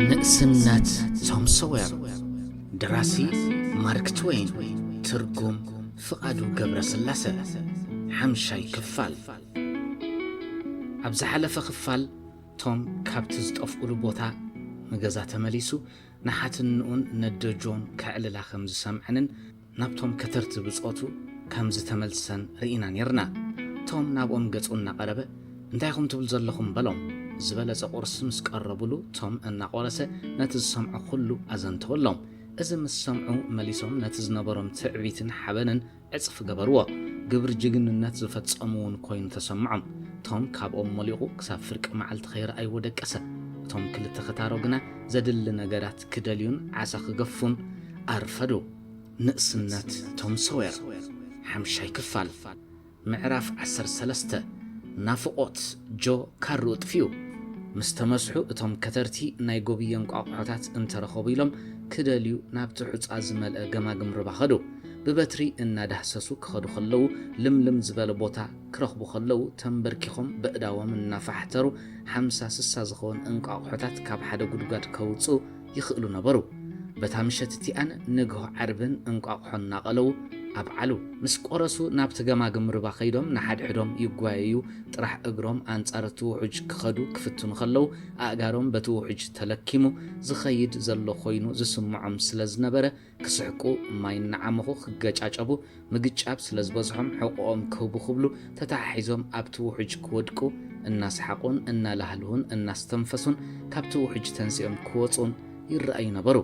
ንእስነት ቶም ሶዌር ደራሲ ማርክ ትወይን ትርጉም ፍቓዱ ገብረ ስላሰ ሓምሻይ ክፋል ኣብ ዝሓለፈ ክፋል ቶም ካብቲ ዝጠፍኡሉ ቦታ ንገዛ ተመሊሱ ንሓትንኡን ነደጆን ከዕልላ ከም ዝሰምዐንን ናብቶም ከተርቲ ብጾቱ ከም ዝተመልሰን ርኢና ኔርና። ቶም ናብኦም ገጹ እናቐረበ እንታይ ኢኹም ትብሉ ዘለኹም በሎም። ዝበለጸ ቁርሲ ምስ ቀረቡሉ ቶም እናቆረሰ ነቲ ዝሰምዖ ኩሉ ኣዘንተወሎም። እዚ ምስ ሰምዑ መሊሶም ነቲ ዝነበሮም ትዕቢትን ሓበንን ዕጽፊ ገበርዎ። ግብሪ ጅግንነት ዝፈጸሙ እውን ኮይኑ ተሰምዖም። ቶም ካብኦም ሞሊቑ ክሳብ ፍርቂ መዓልቲ ከይረኣይዎ ደቀሰ። እቶም ክልተ ከታሮ ግና ዘድሊ ነገራት ክደልዩን ዓሳ ክገፉን ኣርፈዱ። ንእስነት ቶም ሶዌር ሓምሻይ ክፋል ምዕራፍ ዓሰርተ ሰለስተ ናፍቖት ጆ ካርኡ ጥፊኡ። ምስ ተመስሑ እቶም ከተርቲ ናይ ጎብየ እንቋቑሖታት እንተረኸቡ ኢሎም ክደልዩ ናብቲ ሑጻ ዝመልአ ገማግም ርባ ከዱ። ብበትሪ እናዳህሰሱ ክኸዱ ከለዉ ልምልም ዝበለ ቦታ ክረኽቡ ከለዉ ተምበርኪኾም በእዳዎም እናፋሕተሩ ሓምሳ ስሳ ዝኸውን እንቋቑሖታት ካብ ሓደ ጉድጓድ ከውጽኡ ይኽእሉ ነበሩ። በታ ምሸት እቲኣን ንግሆ ዓርብን እንቋቑሖ እናቐለዉ ኣብዓሉ። ምስ ቆረሱ ናብቲ ገማግም ርባ ከይዶም ንሓድሕዶም ይጓየዩ፣ ጥራሕ እግሮም ኣንጻር እቲ ውሑጅ ክኸዱ ክፍትኑ ከለዉ ኣእጋሮም በቲ ውሑጅ ተለኪሙ ዝኸይድ ዘሎ ኮይኑ ዝስምዖም ስለዝነበረ ክስሕቁ ማይ እናዓመኹ ክገጫጨቡ ምግጫብ ስለ ዝበዝሖም ሕቑኦም ክህቡ ክብሉ ተተሓሒዞም ኣብቲ ውሑጅ ክወድቁ እናሰሓቑን እናላህልሁን እናስተንፈሱን ካብቲ ውሑጅ ተንሲኦም ክወጹን ይረኣዩ ነበሩ።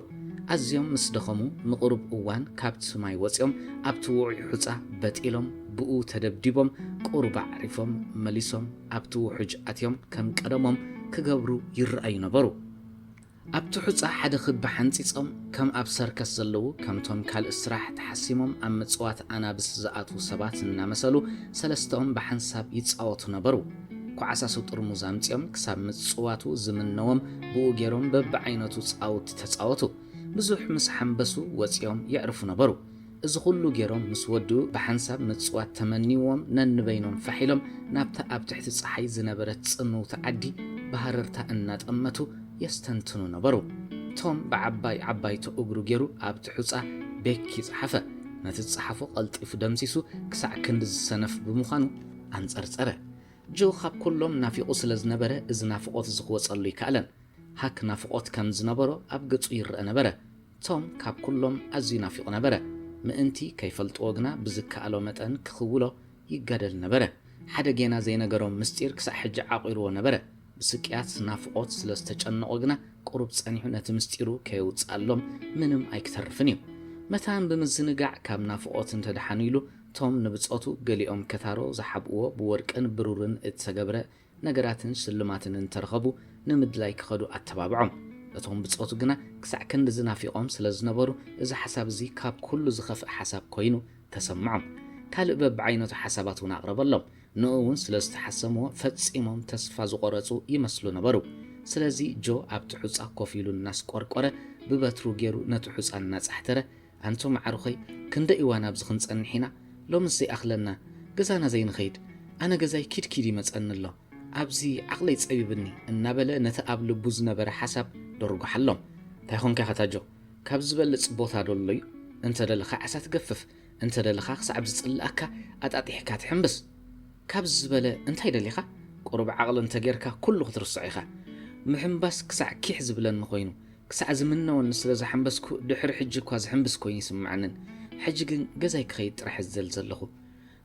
ኣዝዮም ምስ ደኸሙ ንቕሩብ እዋን ካብቲ ማይ ወጺኦም ኣብቲ ውዑይ ሑጻ በጢሎም ብኡ ተደብዲቦም ቁሩብ ኣዕሪፎም መሊሶም ኣብቲ ውሑጅ ኣትዮም ከም ቀደሞም ክገብሩ ይረኣዩ ነበሩ። ኣብቲ ሑጻ ሓደ ክቢ ሓንጺጾም ከም ኣብ ሰርከስ ዘለዉ ከምቶም ካልእ ስራሕ ተሓሲሞም ኣብ ምጽዋት ኣናብስ ዝኣትዉ ሰባት እናመሰሉ ሰለስተኦም ብሓንሳብ ይጻወቱ ነበሩ። ኳዓሳሱ ጥርሙዝ ኣምጺኦም ክሳብ ምጽዋቱ ዝምነዎም ብኡ ጌሮም በብዓይነቱ ጻውቲ ተጻወቱ። ብዙሕ ምስ ሓምበሱ ወጺኦም የዕርፉ ነበሩ። እዚ ኹሉ ገይሮም ምስ ወድኡ ብሓንሳብ ምጽዋት ተመንይዎም ነንበይኖም ፋሕ ኢሎም ናብታ ኣብ ትሕቲ ጸሓይ ዝነበረት ጽምውቲ ዓዲ ብሃረርታ እናጠመቱ የስተንትኑ ነበሩ። ቶም ብዓባይ ዓባይቶ እግሩ ገይሩ ኣብቲ ሑጻ ቤኪ ጸሓፈ። ነቲ ዝጸሓፎ ቀልጢፉ ደምሲሱ ክሳዕ ክንድዚ ሰነፍ ብምዃኑ ኣንጸርጸረ። ጆ ካብ ኩሎም ናፊቑ ስለ ዝነበረ እዚ ናፍቖት እዚ ክወጸሉ ኣይከኣለን። ሃክ ናፍቖት ከም ዝነበሮ ኣብ ገጹ ይረኣ ነበረ። ቶም ካብ ኩሎም ኣዝዩ ናፊቑ ነበረ። ምእንቲ ከይፈልጥዎ ግና ብዝከኣሎ መጠን ክኽውሎ ይጋደል ነበረ። ሓደ ጌና ዘይነገሮም ምስጢር ክሳዕ ሕጂ ዓቚሩዎ ነበረ። ብስቅያት ናፍቖት ስለ ዝተጨነቑ ግና ቁሩብ ጸኒሑ ነቲ ምስጢሩ ከየውጽኣሎም ምንም ኣይክተርፍን እዩ። መታን ብምዝንጋዕ ካብ ናፍቖት እንተ ደሓኑ ኢሉ ቶም ንብጾቱ ገሊኦም ከታሮ ዝሓብእዎ ብወርቅን ብሩርን እተገብረ ነገራትን ስልማትን እንተ ረኸቡ ንምድላይ ኪኸዱ ኣተባብዖም። እቶም ብጾቱ ግና ክሳዕ ክንድዚ ናፊቖም ስለ ዝነበሩ፣ እዚ ሓሳብ እዚ ካብ ኵሉ ዚኸፍእ ሓሳብ ኰይኑ ተሰምዖም። ካልእ በብዓይነቱ ሓሳባት እውን ኣቕረበሎም። ንእኡ እውን ስለ ዝተሓሰምዎ፣ ፈጺሞም ተስፋ ዝቖረጹ ይመስሉ ነበሩ። ስለዚ፣ ጆ ኣብቲ ሑጻ ኰፍ ኢሉ እናስቈርቈረ፣ ብበትሩ ገይሩ ነቲ ሑጻ እናጻሕተረ፣ ኣንቱም ኣዕሩኸይ ክንደይ እዋን ኣብዚ ክንጸንሕ ኢና ሎምስ ዘይኣኽለና ገዛና ዘይንኸይድ ኣነ ገዛይ ኪድ ኪድ ይመጸኒ ኣሎ ኣብዚ ዓቕለይ ጸቢብኒ እናበለ ነቲ ኣብ ልቡ ዝነበረ ሓሳብ ደርጎሓሎም ታይ ኾንካ ኢኻ ታጆ ካብዚ ዝበልጽ ቦታ ዶ ኣሎ እዩ እንተ ደለኻ ዓሳ ትገፍፍ እንተ ደለኻ ክሳዕ ዝጽልኣካ ኣጣጢሕካ ትሕምብስ ካብዚ ዝበለ እንታይ ደሊኻ ቁሩብ ዓቕሊ እንተ ጌርካ ኩሉ ክትርስዖ ኢኻ ምሕምባስ ክሳዕ ኪሕ ዝብለኒ ኾይኑ ክሳዕ ዝምነወኒ ስለ ዝሓምበስኩ ድሕሪ ሕጂ እኳ ዝሕምብስ ኮይኑ ኣይስምዓንን ሕጂ ግን ገዛይ ክኸይድ ጥራሕ ዝደሊ ዘለኹ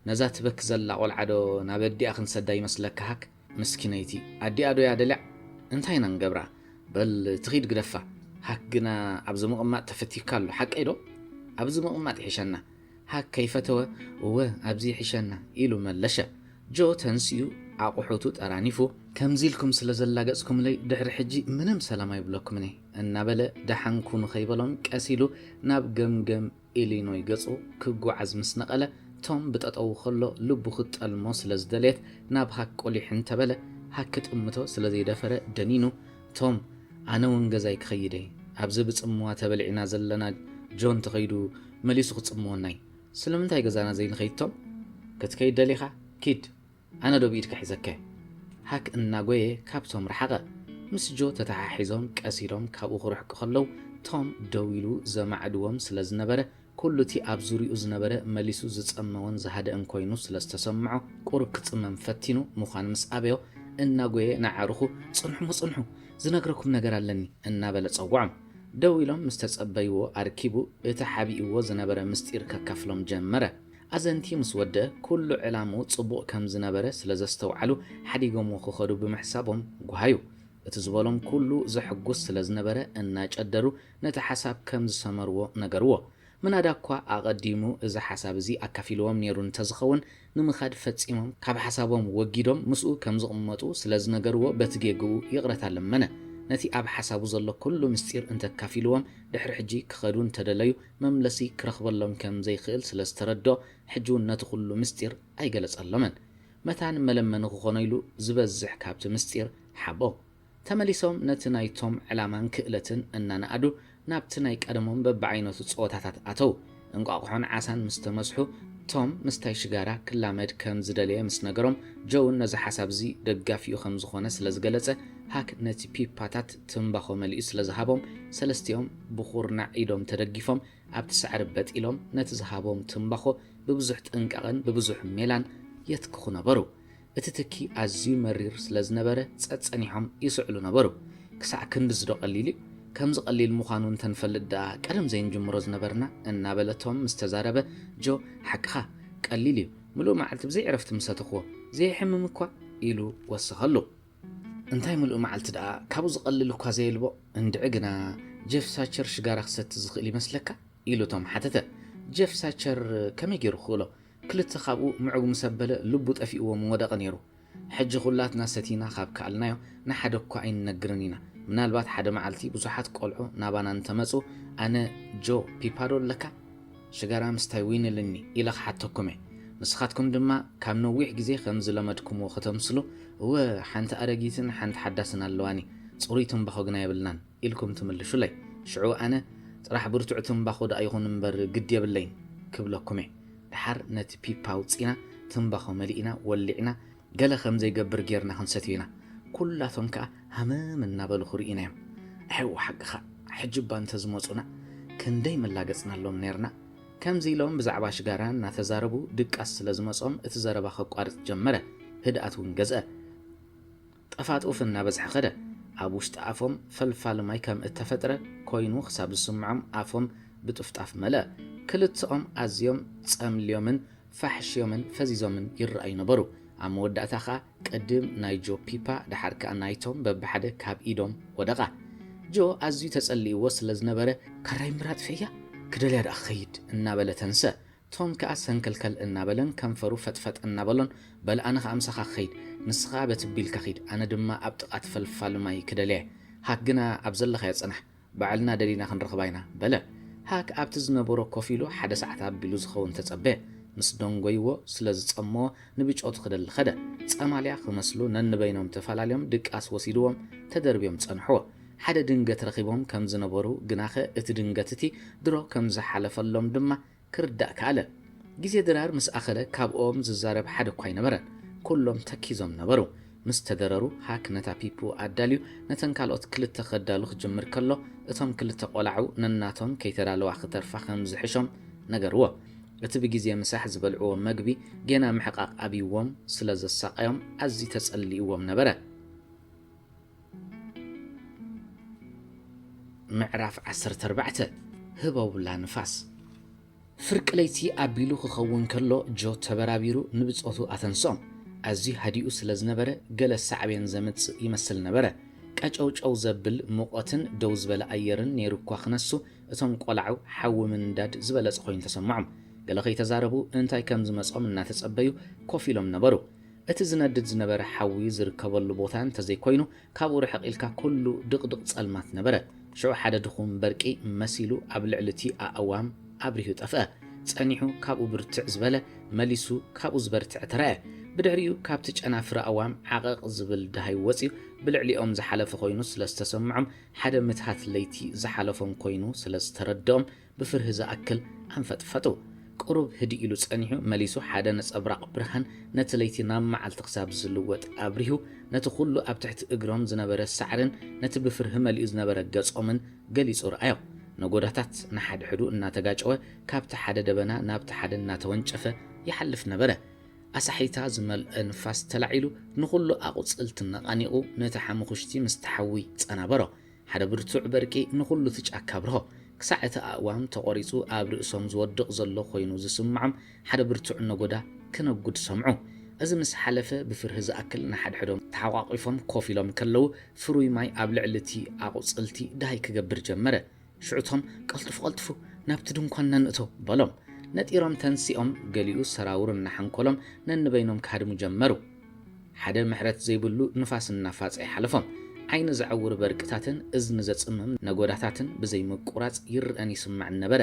ነዛ ትበኪ ዘላ ቆልዓ ዶ ናብ ኣዲኣ ክንሰዳ ይመስለካ ሃክ ምስኪነይቲ ኣዲኣ ዶ እያ ደልያ እንታይ ኢና ንገብራ በል ትኺድ ግደፋ ሃክ ግና ኣብዚ ምቕማጥ ተፈቲካ ኣሎ ሓቀይ ዶ ኣብዚ ምቕማጥ ይሕሸና ሃክ ከይፈተወ እወ ኣብዚ ይሕሸና ኢሉ መለሸ። ጆ ተንሲኡ ኣቑሑቱ ጠራኒፉ ከምዚ ኢልኩም ስለ ዘላገጽኩምለይ ድሕሪ ሕጂ ምንም ሰላም ኣይብለኩምን እየ እናበለ ደሓን ኩኑ ከይበሎም ቀስ ኢሉ ናብ ገምገም ኢሊኖይ ገጹ ክጓዓዝ ምስ ነቐለ ቶም ብጠጠዉ ከሎ ልቡ ክትጠልሞ ስለ ዝደለየት ናብ ሃክ ቁሊሕ እንተበለ ሃክ ክጥምቶ ስለ ዘይደፈረ ደኒኑ ቶም ኣነ ውን ገዛይ ክኸይድ እየ ኣብዚ ብጽምዋ ተበሊዕና ዘለና ጆን ተኸይዱ መሊሱ ክጽምወናይ ስለምንታይ ገዛና ዘይንኸይድ ቶም ክትከይድ ደሊኻ ኪድ ኣነ ዶ ብኢድካ ሒዘከ ሃክ እናጎየ ካብ ቶም ረሓቐ ምስ ጆ ተተሓሒዞም ቀስ ኢሎም ካብኡ ክርሕቁ ከለው ቶም ደው ኢሉ ዘማዕድዎም ስለዝነበረ ኩሉ እቲ ኣብ ዙርያኡ ዝነበረ መሊሱ ዝጸመወን ዝሃደእን ኮይኑ ስለ ዝተሰምዖ፣ ቁሩብ ክጽመም ፈቲኑ ምዃኑ ምስ ኣበዮ፣ እናጎየ ንኣዕሩኹ፣ ጽንሑ ጽንሑ! ዝነግረኩም ነገር ኣለኒ! እናበለ ጸውዖም። ደው ኢሎም ምስ ተጸበይዎ ኣርኪቡ እቲ ሓቢእዎ ዝነበረ ምስጢር ከካፍሎም ጀመረ። ኣዘንቲ ምስ ወድኣ፣ ኩሉ ዕላምኡ ጽቡቕ ከም ዝነበረ ስለ ዘስተውዓሉ ሓዲጎምዎ ክኸዱ ብምሕሳቦም ጓሃዩ። እቲ ዝበሎም ኩሉ ዘሕጉስ ስለ ዝነበረ እናጨደሩ ነቲ ሓሳብ ከም ዝሰመርዎ ነገርዎ። ምናዳ'ኳ ኣቐዲሙ እዚ ሓሳብ እዚ ኣካፊልዎም ነይሩ እንተ ዝኸውን፣ ንምኻድ ፈጺሞም ካብ ሓሳቦም ወጊዶም ምስኡ ከም ዝቕመጡ ስለ ዝነገርዎ በቲ ጌግኡ ይቕረታ ለመነ። ነቲ ኣብ ሓሳቡ ዘሎ ኵሉ ምስጢር እንተ ኣካፊልዎም ድሕሪ ሕጂ ክኸዱ እንተ ደለዩ መምለሲ ክረኽበሎም ከም ዘይክእል ስለ ዝተረድኦ ሕጂ'ውን ነቲ ኵሉ ምስጢር ኣይገለጸሎምን። መታን መለመኒ ክዀኖ ኢሉ ዝበዝሕ ካብቲ ምስጢር ሓቦ። ተመሊሶም ነቲ ናይቶም ዕላማን ክእለትን እናነኣዱ ናብቲ ናይ ቀደሞም በብዓይነቱ ጸወታታት ኣተዉ። እንቋቑሖን ዓሳን ምስ ተመስሑ፣ ቶም ምስታይ ሽጋራ ክላመድ ከም ዝደለየ ምስ ነገሮም፣ ጆውን ነዚ ሓሳብ እዚ ደጋፊኡ ከም ዝዀነ ስለ ዝገለጸ፣ ሃክ ነቲ ፒፓታት ትምባኾ መሊኡ ስለ ዝሃቦም፣ ሰለስቲኦም ብዅርናዕ ኢዶም ተደጊፎም ኣብቲ ሳዕሪ በጥ ኢሎም ነቲ ዝሃቦም ትምባኾ ብብዙሕ ጥንቃቐን ብብዙሕ ሜላን የትክኹ ነበሩ። እቲ ትኪ ኣዝዩ መሪር ስለ ዝነበረ ጸጸኒሖም ይስዕሉ ነበሩ። ክሳዕ ክንድዝዶ ቀሊል'ዩ? ከምዚ ቀሊል ምዃኑ እንተ ንፈልጥ ደኣ ቀደም ዘይንጅምሮ ዝነበርና? እናበለቶም ምስ ተዛረበ፣ ጆ ሓቅኻ፣ ቀሊል'ዩ፣ ምሉእ መዓልቲ ብዘይ ዕረፍቲ ምስ ሰተኹዎ፣ ዘየሕምም እኳ ኢሉ ወሰኸሉ። እንታይ ምሉእ መዓልቲ ደኣ፣ ካብኡ ዝቐልል እኳ ዘየልቦ? እንድዒ ግና ጀፍ ሳቸር ሽጋራ ክሰቲ ዝኽእል ይመስለካ? ኢሉ ቶም ሓተተ። ጀፍ ሳቸር ከመይ ገይሩ ክኽእሎ? ክልተ ካብኡ ምዑግ ምስ ኣበለ ልቡ ጠፊእዎ ምወደቐ ነይሩ። ሕጂ ኩላትና ሰቲና ካብ ከኣልናዮ ንሓደ እኳ ኣይንነግርን ኢና። ምናልባት ሓደ መዓልቲ ብዙሓት ቆልዑ ናባና እንተ መጹ ኣነ ጆ ፒፓዶ ኣለካ? ሽጋራ ምስታይ ዊንልኒ ኢለ ክሓተኩም እየ። ንስኻትኩም ድማ ካብ ነዊሕ ግዜ ከም ዝለመድኩምዎ ከተምስሉ እወ ሓንቲ ኣረጊትን ሓንቲ ሓዳስን ኣለዋኒ ጽሩይ ትምባኾ ግና የብልናን። ኢልኩም ትምልሹለይ ሽዑ ኣነ ጥራሕ ብርቱዕ ትምባኾ ድኣ ይኹን እምበር ግዲ የብለይን ክብለኩም'የ ድሓር ነቲ ፒፓ ኣውጺእና ትምባኾ መሊእና ወሊዕና ገለ ከም ዘይገብር ጌርና ክንሰትዮ ኢና ኩላቶም ከኣ ሃመም እናበሉ ክርኡና'ዮም ኣሕው ሓቅኻ ሕጂ'ባ እንተዝመጹና ክንደይ መላገጽናሎም ኔርና ከምዚ ኢሎም ብዛዕባ ሽጋራ እናተዛረቡ ድቃስ ስለ ዝመጾም እቲ ዘረባ ከቋርጽ ጀመረ ህድኣት ውን ገዝኣ ጥፋት ኡፍ እናበዝሐ ከደ። ኣብ ውሽጢ ኣፎም ፈልፋሊ ማይ ከም እተፈጥረ ኰይኑ ኽሳብ ዝስምዖም ኣፎም ብጥፍጣፍ መልአ። ክልተኦም ኣዝዮም ጸምልዮምን ፋሕሽዮምን ፈዚዞምን ይረኣዩ ነበሩ። ኣብ መወዳእታ ኸኣ ቅድም ናይ ጆ ፒፓ ደሓር ከኣ ናይቶም በብሓደ ካብ ኢዶም ወደቓ። ጆ ኣዝዩ ተጸሊእዎ ስለ ዝነበረ፣ ካራይ ምራጥ ፌያ ክደልያ ደኣ ክኸይድ እናበለ ተንስአ። ቶም ከኣ ሰንከልከል እናበለን ከንፈሩ ፈጥፈጥ እናበሎን በል ኣነ ከኣ ምሳኻ ክኸይድ ንስኻ ከኣ በቲ ቢልካ ኺድ ኣነ ድማ ኣብ ጥቓ እቲ ፈልፋሊ ማይ ክደልያ እየ ሃክ ግና ኣብ ዘለኻዮ ጽናሕ ባዕልና ደሊና ክንረኽባ ኢና በለ ሃክ ኣብቲ ዝነበሮ ኮፍ ኢሉ ሓደ ሰዓት ኣቢሉ ዝኸውን ተጸበየ ምስ ደንጎይዎ ስለ ዝጸመዎ ንብጮቱ ክደሊ ከደ ጸማልያ ክመስሉ ነንበይኖም ተፈላልዮም ድቃስ ወሲድዎም ተደርብዮም ጸንሕዎ ሓደ ድንገት ረኺቦም ከም ዝነበሩ ግናኸ እቲ ድንገት እቲ ድሮ ከም ዝሓለፈሎም ድማ ክርዳእ ከኣለ። ግዜ ድራር ምስ ኣኸለ ካብኦም ዝዛረብ ሓደ እኳ ኣይነበረን። ኩሎም ተኪዞም ነበሩ። ምስ ተደረሩ ሃክ ነታ ፒፑ ኣዳልዩ ነተን ካልኦት ክልተ ከዳሉ ክጅምር ከሎ እቶም ክልተ ቆላዑ ነናቶም ከይተዳለዋ ክተርፋ ከም ዝሕሾም ነገርዎ። እቲ ብግዜ ምሳሕ ዝበልዕዎ መግቢ ጌና ምሕቓቕ ኣብይዎም ስለ ዘሳቐዮም ኣዝዩ ተጸሊእዎም ነበረ። ምዕራፍ ዓሰርተ ኣርባዕተ ህበውላ ንፋስ ፍርቂ ለይቲ ኣቢሉ ክኸውን ከሎ ጆ ተበራቢሩ ንብጾቱ ኣተንስኦም። ኣዝዩ ሃዲኡ ስለ ዝነበረ ገለ ሳዕቤን ዘምጽእ ይመስል ነበረ። ቀጨውጨው ዘብል ሙቐትን ደው ዝበለ ኣየርን ነይሩ እኳ ክነሱ እቶም ቆላዑ ሓዊ ምንዳድ ዝበለጸ ኮይኑ ተሰምዖም። ገለ ከይተዛረቡ እንታይ ከም ዝመጾም እናተጸበዩ ኮፍ ኢሎም ነበሩ። እቲ ዝነድድ ዝነበረ ሓዊ ዝርከበሉ ቦታ እንተ ዘይኮይኑ፣ ካብኡ ርሕቕ ኢልካ ኩሉ ድቕድቕ ጸልማት ነበረ። ሽዑ ሓደ ድኹም በርቂ መሲሉ ኣብ ልዕሊ እቲ ኣእዋም ኣብሪሁ ጠፍኣ። ጸኒሑ ካብኡ ብርትዕ ዝበለ፣ መሊሱ ካብኡ ዝበርትዐ ተራእየ። ብድሕሪኡ ካብቲ ጨናፍር ኣእዋም ዓቐቕ ዝብል ደሃይ ወጺኡ ብልዕሊኦም ዝሓለፈ ኮይኑ ስለ ዝተሰምዖም፣ ሓደ ምትሃት ለይቲ ዝሓለፎም ኮይኑ ስለ ዝተረድኦም፣ ብፍርሂ ዝኣክል ኣንፈጥፈጡ። ቁሩብ ህድእ ኢሉ ጸኒሑ መሊሱ ሓደ ነጸብራቕ ብርሃን ነቲ ለይቲ ናብ መዓልቲ ክሳብ ዝልወጥ ኣብሪሁ፣ ነቲ ኩሉ ኣብ ትሕቲ እግሮም ዝነበረ ሳዕርን ነቲ ብፍርሂ መሊኡ ዝነበረ ገጾምን ገሊጹ ረኣዮ። ነጎዳታት ንሓድሕዱ እናተጋጨወ ካብቲ ሓደ ደበና ናብቲ ሓደ እናተወንጨፈ ይሓልፍ ነበረ። ኣሳሕይታ ዝመልኦ ንፋስ ተላዒሉ ንኹሉ ኣቑጽልቲ ነቓኒቑ ነቲ ሓሙኹሽቲ ምስቲ ሓዊ ጸናበሮ። ሓደ ብርቱዕ በርቂ ንኹሉ እቲ ጫካ ኣብርሆ። ክሳዕ እቲ ኣእዋም ተቖሪጹ ኣብ ርእሶም ዝወድቕ ዘሎ ኮይኑ ዝስምዖም ሓደ ብርቱዕ ነጎዳ ክነጉድ ሰምዑ። እዚ ምስ ሓለፈ ብፍርሂ ዝኣክል ንሓድሕዶም ተሓቛቒፎም ኮፍ ኢሎም ከለዉ ፍሩይ ማይ ኣብ ልዕሊ እቲ ኣቑጽልቲ ደሃይ ክገብር ጀመረ። ሽዑ ቶም ቀልጥፉ ቀልጥፉ ናብቲ ድንኳንና ንእቶ በሎም። ነጢሮም ተንሲኦም ገሊኡ ሰራውር እናሓንኮሎም ነንበይኖም ክሃድሙ ጀመሩ። ሓደ ምሕረት ዘይብሉ ንፋስ እናፋጸ ይሓልፎም። ዓይኒ ዘዐውር በርቅታትን እዝኒ ዘጽምም ነጐዳታትን ብዘይ ምቍራጽ ይረኣን ይስማዕን ነበረ።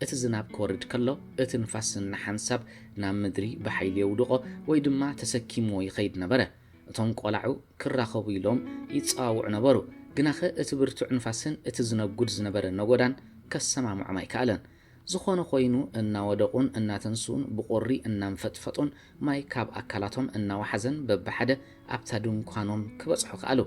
እቲ ዝናብ ክወርድ ከሎ፣ እቲ ንፋስ ነሓንሳብ ናብ ምድሪ ብሓይሊ የውድቖ ወይ ድማ ተሰኪምዎ ይኸይድ ነበረ። እቶም ቈላዑ ክራኸቡ ኢሎም ይጸዋውዑ ነበሩ፣ ግናኸ እቲ ብርቱዕ ንፋስን እቲ ዝነጕድ ዝነበረ ነጐዳን ከሰማምዖም ኣይከኣለን። ዝኾነ ኾይኑ እናወደቑን እናተንስኡን ብቑሪ እናንፈጥፈጡን ማይ ካብ ኣካላቶም እናወሓዘን በብሓደ ኣብታ ድንኳኖም ክበጽሑ ከኣሉ።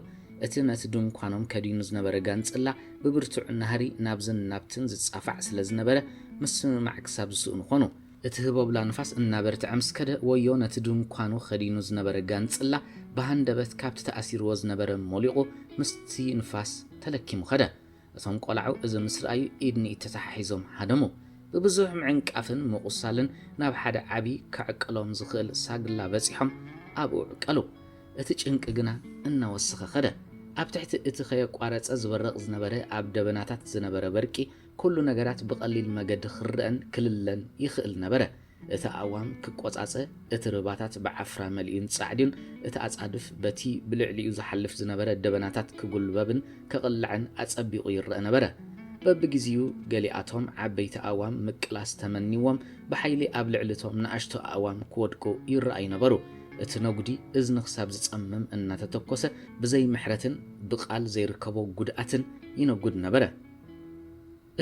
እቲ ነቲ ድንኳኖም ከዲኑ ዝነበረ ጋንጽላ ብብርቱዕ ናህሪ ናብዝን ናብትን ዝጻፋዕ ስለ ዝነበረ ምስምማዕ ክሳብ ዝስእኑ ኾኑ። እቲ ህቦብላ ንፋስ እናበርትዐ ምስ ከደ ወዮ ነቲ ድንኳኑ ኸዲኑ ዝነበረ ጋንጽላ ብሃንደበት ካብቲ ተኣሲርዎ ዝነበረ ሞሊቑ ምስቲ ንፋስ ተለኪሙ ኸደ። እቶም ቆላዑ እዚ ምስ ረኣዩ ኢድ ንኢድ ተተሓሒዞም ሃደሙ። ብብዙሕ ምዕንቃፍን ምቑሳልን ናብ ሓደ ዓቢ ከዕቅሎም ዝኽእል ሳግላ በጺሖም ኣብኡ ዕቀሉ። እቲ ጭንቂ ግና እናወሰኸ ከደ። ኣብ ትሕቲ እቲ ከየቋረጸ ዝበርቕ ዝነበረ ኣብ ደበናታት ዝነበረ በርቂ ኩሉ ነገራት ብቐሊል መገዲ ክረኣን ክልለን ይኽእል ነበረ። እቲ ኣእዋም ክቆጻጸ፣ እቲ ርባታት ብዓፍራ መሊኡን ጻዕዲን፣ እቲ ኣጻድፍ በቲ ብልዕሊኡ ዝሓልፍ ዝነበረ ደበናታት ክጉልበብን ክቕላዕን ኣጸቢቑ ይረኣ ነበረ። በብግዜኡ ገሊኣቶም ዓበይቲ ኣእዋም ምቅላስ ተመኒዎም ብሓይሊ ኣብ ልዕሊ እቶም ንኣሽቱ ኣእዋም ክወድቁ ይረኣዩ ነበሩ። እቲ ነጉዲ እዝኒ ክሳብ ዝጸምም እናተተኮሰ ብዘይ ምሕረትን ብቃል ዘይርከቦ ጉድኣትን ይነጉድ ነበረ።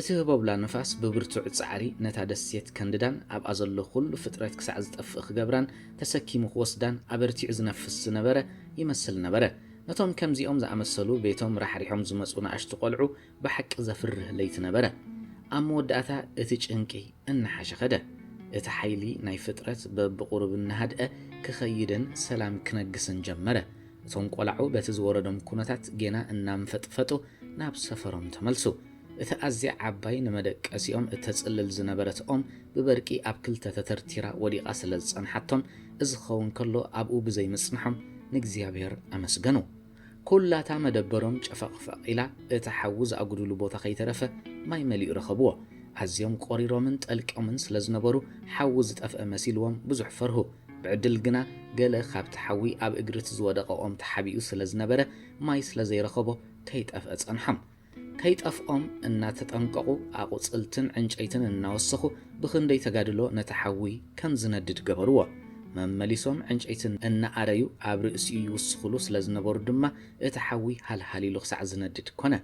እቲ ህቦብላ ንፋስ ብብርቱዕ ጻዕሪ ነታ ደሴት ከንድዳን ኣብኣ ዘሎ ዅሉ ፍጥረት ክሳዕ ዝጠፍእ ክገብራን ተሰኪሙ ክወስዳን ኣበርቲዑ ዝነፍስ ዝነበረ ይመስል ነበረ። ነቶም ከምዚኦም ዝኣመሰሉ ቤቶም ራሕሪሖም ዝመጹ ንኣሽቱ ቈልዑ ብሓቂ ዘፍርህ ለይቲ ነበረ። ኣብ መወዳእታ እቲ ጭንቂ እናሓሸ ኸደ። እቲ ሓይሊ ናይ ፍጥረት በብቝሩብ እናሃድአ ክኸይድን ሰላም ክነግስን ጀመረ። እቶም ቆላዑ በቲ ዝወረዶም ኩነታት ጌና እናንፈጥፈጡ ናብ ሰፈሮም ተመልሱ። እቲ ኣዝያ ዓባይ ንመደቀሲኦም እተጽልል ዝነበረት ኦም ብበርቂ ኣብ ክልተ ተተርቲራ ወዲቓ ስለ ዝጸንሓቶም እዚ ክኸውን ከሎ ኣብኡ ብዘይ ምጽንሖም ንእግዚኣብሄር ኣመስገኑ። ኩላታ መደበሮም ጨፈቕፈቕ ኢላ እቲ ሓዊ ዝኣጉድሉ ቦታ ከይተረፈ ማይ መሊኡ ረኸብዎ። ኣዝዮም ቆሪሮምን ጠልቅዮምን ስለ ዝነበሩ ሓዊ ዝጠፍአ መሲልዎም ብዙሕ ፈርሁ። ብዕድል ግና ገለ ካብቲ ሓዊ ኣብ እግሪ እቲ ዝወደቐ ኦም ተሓቢኡ ስለ ዝነበረ ማይ ስለ ዘይረኸቦ ከይጠፍኣ ጸንሖም። ከይጠፍኦም እናተጠንቀቑ ኣቝጽልትን ዕንጨይትን እናወሰኹ ብኽንደይ ተጋድሎ ነቲ ሓዊ ከም ዝነድድ ገበርዎ። መመሊሶም ዕንጨይቲ እናኣረዩ ኣብ ርእሲኡ ይውስኹሉ ስለ ዝነበሩ ድማ እቲ ሓዊ ሃልሃል ኢሉ ክሳዕ ዝነድድ ኰነ።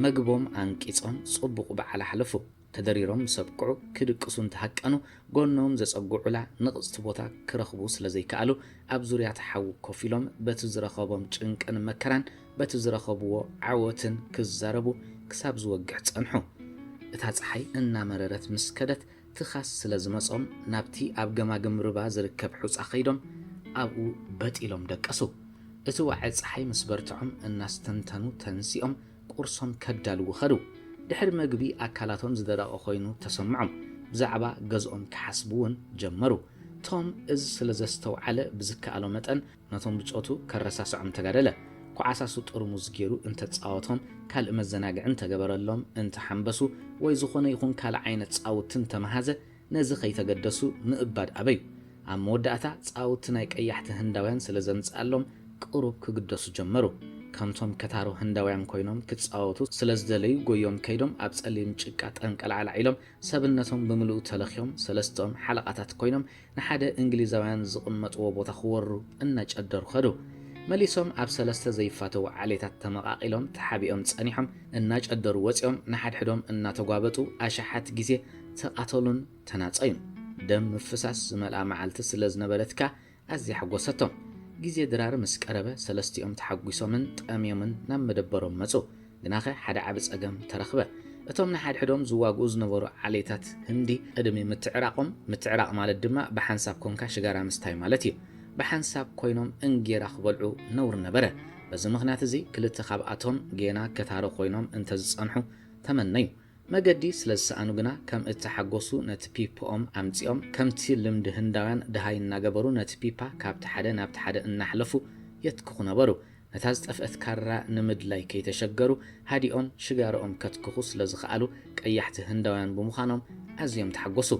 መግቦም ኣንቂጾም ጽቡቕ በዓል ኣሕለፉ። ተደሪሮም ምስ ኣብቅዑ ክድቅሱ እንተሃቀኑ ጎኖም ዘጸግዑላ ንቕጽቲ ቦታ ክረኽቡ ስለ ዘይከኣሉ ኣብ ዙርያ'ቲ ሓዊ ኮፍ ኢሎም በቲ ዝረኸቦም ጭንቅን መከራን በቲ ዝረኸብዎ ዓወትን ክዛረቡ ክሳብ ዝወግሕ ጸንሑ። እታ ጸሓይ እናመረረት ምስ ከደት ትኻስ ስለ ዝመጾም ናብቲ ኣብ ገማግም ርባ ዝርከብ ሑጻ ከይዶም ኣብኡ በጥ ኢሎም ደቀሱ። እቲ ዋዒ ጸሓይ ምስ በርትዖም እናስተንተኑ ተንሲኦም ቁርሶም ከዳልዉ ከዱ። ድሕሪ መግቢ ኣካላቶም ዝደረቐ ኮይኑ ተሰምዖም። ብዛዕባ ገዝኦም ክሓስቡ ውን ጀመሩ። ቶም እዚ ስለ ዘስተውዓለ ብዝከኣሎ መጠን ነቶም ብጾቱ ከረሳስዖም ተጋደለ። ኩዓሳሱ ጥርሙዝ ጌሩ እንተጻወቶም፣ ካልእ መዘናግዒ እንተገበረሎም፣ እንተሓምበሱ ወይ ዝኾነ ይኹን ካልእ ዓይነት ጻውቲ እንተመሃዘ፣ ነዚ ከይተገደሱ ምእባድ ኣበዩ። ኣብ መወዳእታ ጻውቲ ናይ ቀያሕቲ ህንዳውያን ስለ ዘምጽኣሎም ቅሩብ ክግደሱ ጀመሩ። ከምቶም ከታሩ ህንዳውያን ኮይኖም ክጻወቱ ስለ ዝደለዩ ጎዮም ከይዶም ኣብ ጸሊም ጭቃ ጠንቀላዕላዕ ኢሎም ሰብነቶም ብምልኡ ተለኽዮም ሰለስተኦም ሓለቓታት ኮይኖም ንሓደ እንግሊዛውያን ዝቕመጥዎ ቦታ ክወሩ እናጨደሩ ከዱ። መሊሶም ኣብ ሰለስተ ዘይፋተዉ ዓሌታት ተመቓቒሎም ተሓቢኦም ጸኒሖም እናጨደሩ ወጺኦም ንሓድሕዶም እናተጓበጡ ኣሽሓት ግዜ ተቓተሉን ተናጸዩን። ደም ምፍሳስ ዝመልኣ መዓልቲ ስለ ዝነበረት ከኣ ኣዝያ ኣሐጐሰቶም። ግዜ ድራር ምስ ቀረበ፣ ሰለስቲኦም ተሓጒሶምን ጠምዮምን ናብ መደበሮም መጹ። ግናኸ ሓደ ዓቢ ጸገም ተረኽበ። እቶም ንሓድሕዶም ዝዋግኡ ዝነበሩ ዓሌታት ህንዲ፣ ቅድሚ ምትዕራቖም፣ ምትዕራቕ ማለት ድማ ብሓንሳብ ኰንካ ሽጋራ ምስታይ ማለት እዩ፣ ብሓንሳብ ኰይኖም እንጌራ ክበልዑ ነውሪ ነበረ። በዚ ምኽንያት እዚ፣ ክልተ ካብኣቶም ጌና ከታሮ ኰይኖም እንተ ዝጸንሑ ተመነዩ። መገዲ ስለ ዝሰኣኑ ግና ከም እተሓጐሱ ነቲ ፒፖኦም ኣምጺኦም፣ ከምቲ ልምዲ ህንዳውያን ደሃይ እናገበሩ ነቲ ፒፓ ካብቲ ሓደ ናብቲ ሓደ እናሕለፉ የትክኹ ነበሩ። ነታ ዝጠፍአት ካራ ንምድላይ ከይተሸገሩ ሃዲኦም ሽጋራኦም ከትክኹ ስለ ዝኸኣሉ ቀያሕቲ ህንዳውያን ብምዃኖም ኣዝዮም ተሓጐሱ።